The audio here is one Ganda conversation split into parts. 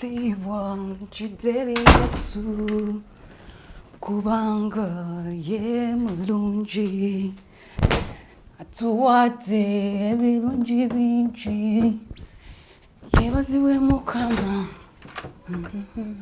Stay one, Jideli Yesu, kubanga ye mulungi, atuwadde ebirungi bingi, yebaziwe Mukama. Mm-hmm.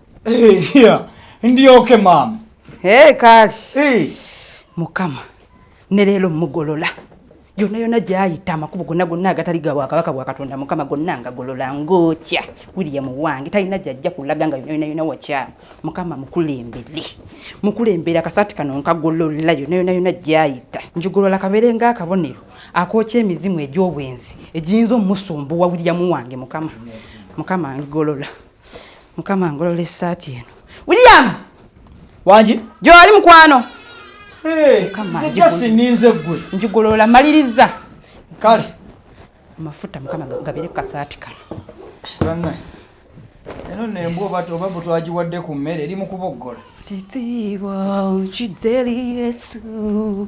Eh, yeah. Ndi okay mama. Hey, kali. Hey. Mukama. Ne lelo mugolola. Yona yona jayita amakubo gonna gonna agatali ga wakabaka wa Katonda Mukama gonna nga golola ngokya William wange talina jajja kulaga nga yona yona wakya Mukama mukulembere mukulembera kasati kano nkagolola yona yona yona jayita njugolola kabere nga akabonero akokya emizimu egy'obwenzi ejiyinza omusumbuwa William wange Mukama Mukama ngolola mukama ngolola esaati eno william wangi gyoli mukwano ninze gwe njigolola maliriza kale amafuta mukama gabire kasaati kano eno nembwa obat oba butwagiwadde ku mmere eri mu kuboggola kitiibwa kideri yesu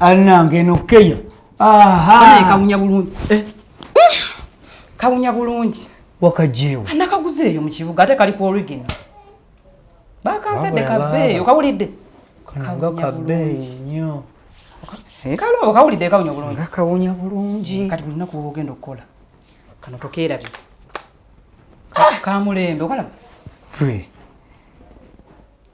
anange nokeya kawunya bulungi eh. kawunya bulungi wakajewo nakaguzeeyo mu kibuga ate kali ku origin bakanzadde kabeeyo kawulidde kawunya bulungi nyo eh, kalo okawulidde kawunya bulungi kawunya bulungi kati buli lunaku woba ogenda okukola kano tokeerabye kamulembe okalaba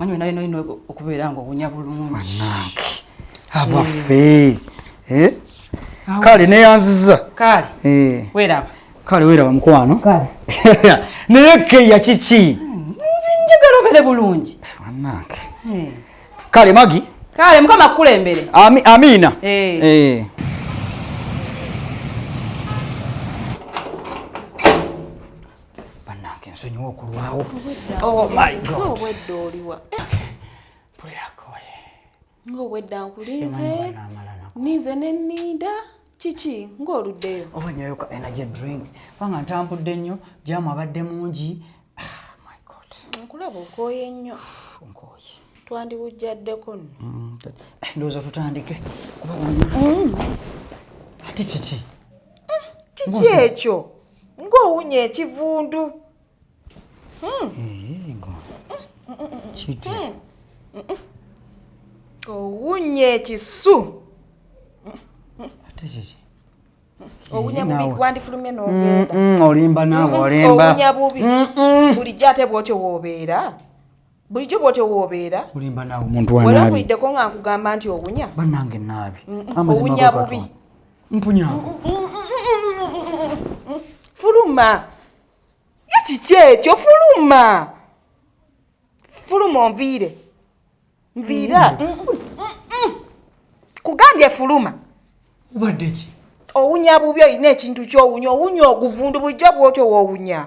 manyi naye naye okubeera nga owunya bulungi abaffe eh? kale neyanziza kale eh. weraba kale weraba mukwano naye keya kiki hmm, njagala obere bulungi anange eh. kale magi kale mukama kukulembere amiina bannange nsonyiwa okulwawo oh my god obwedda oliwa pulirakoye ng'obwedda nkulinze ninze ne ninda kiki ng'oluddeyo oba nyoyoka energy drink kubanga ntambudde nnyo jamu abadde mungi ah, my god nkulaba okooye nnyo nkooye twandiwujjaddeko nno mm, eh, ndowooza tutandike kuba mm. ate kiki mm, kiki ekyo ng'owunya ekivundu hmm. owunya ekisu olimba naawe olimba bulijjo ate bwotyo woobeera bulijjo bwotyo woobeera olimba naawe omuntu wanaabi wali ompuliddeko nga nkugamba nti owunya bannange naabi owunya bubi mpunyaako fuluma ye kiki ekyo fuluma fuluma onviire nviira mm. mm. kugambye fuluma obadde ki owunya bubi olina ekintu kyowunya owunya oguvundu bulijjo bwotyo woowunya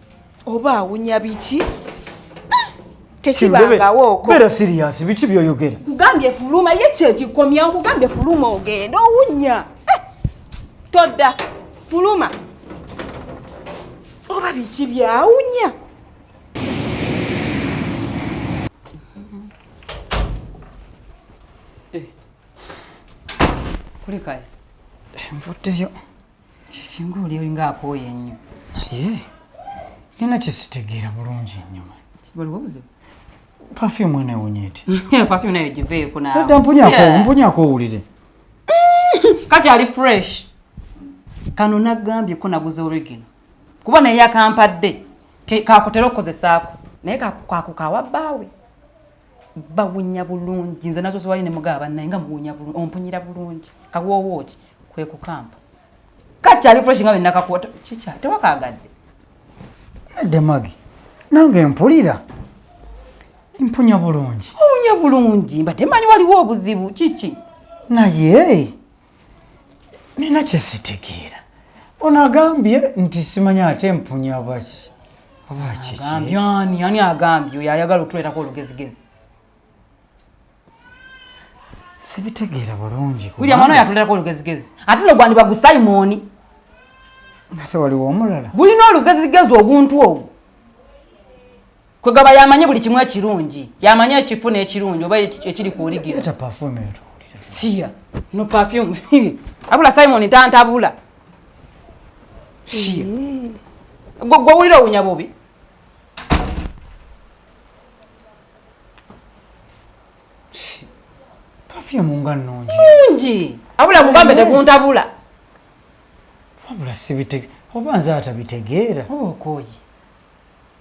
oba awunya biki tekibangawooko beera siriyasi biki byoyogera kugambye fuluma ye kyekikomya nkugambye fuluma ogenda owunya eh, todda fuluma oba biki byawunya eh. kulikayo nvuddeyo kiki ng'oli olinga akooye ennyo naye nina kyesitegeera bulungi ennyuma waliwo obuzibu pafyumu eno ewunya eti pafyumu nayo giveeko naadda mpunyako owulire kakyali fresh kano nagambye ko naguze origino kuba naye yakampadde kakutera okukozesaako naye kakukawa bbaawe bawunya bulungi nze nazo ziwali ne mugaba bannaye nga muwunya bulungi ompunyira bulungi kawoowo ki kwe kukampa kakyali fresh nga wenakakota kikya tewakagadde nadde magi nange mpulira mpunya bulungi owunya bulungi mbadde manyi waliwo obuzibu kiki naye nina kyesitegeera ono agambye nti simanya ate mpunya baki agambye ani ani agambye oyo ayagala okutuleetako olugezigezi sibitegeera bulungi william ano yatuleetako olugezigezi ate no gwandiba gu simoni ate waliwo omulala gulina olugezigezi oguntu ogwo kwegaba yamanyi buli kimu ekirungi yamanyi ekifu n'ekirungi oba ekiri ku oligiro siya no perfume abula simon tantabula siya gwe owulira owunya bobi perfume nga nungi nungi abula mugambe teguntabula wabula sibite oba nze atabitegeera oba okooye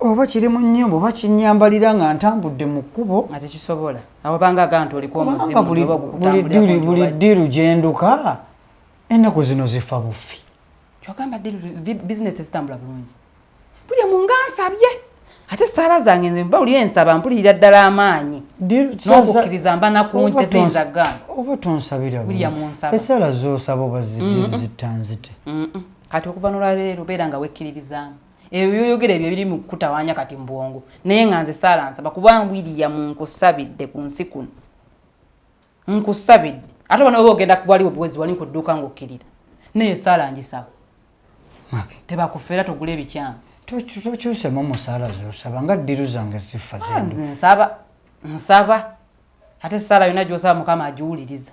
oba kiri mu nnyumba oba kinyambalira nga ntambudde mu kkubo nga tekisobola awabanga agaa nti oliko omuzimubuli ddiru gyenduka ennaku zino zifa bufi kyogamba bizinesi tezitambula bulungi buli mu nga nsabye ate esaala zange nze mba oli ensaba mpulirira ddala amaanyi nokukkiriza mba nakungi teziyinza gaana oba tonsabira esaala zosaba oba zittanzite mm. kati okuva nolwaleero beera nga wekkiririzaamu ebyo byoyogera ebyo biri mu kukutawaanya kati mu bwongo naye nga nze saala nsaba kubanga wiriyamu nkusabidde ku nsi kuno nkusabidde ate obona oba ogenda kubwaliwo buwezi wali nkudduuka ngaokkirira naye saala ngisaba tebakufeera togula ebikyamu tokyusemu musaala zosaba nga ddiru zange ziffa ah, zenze nsaba nsaba ate saala yona gyosaba mukama agiwuliriza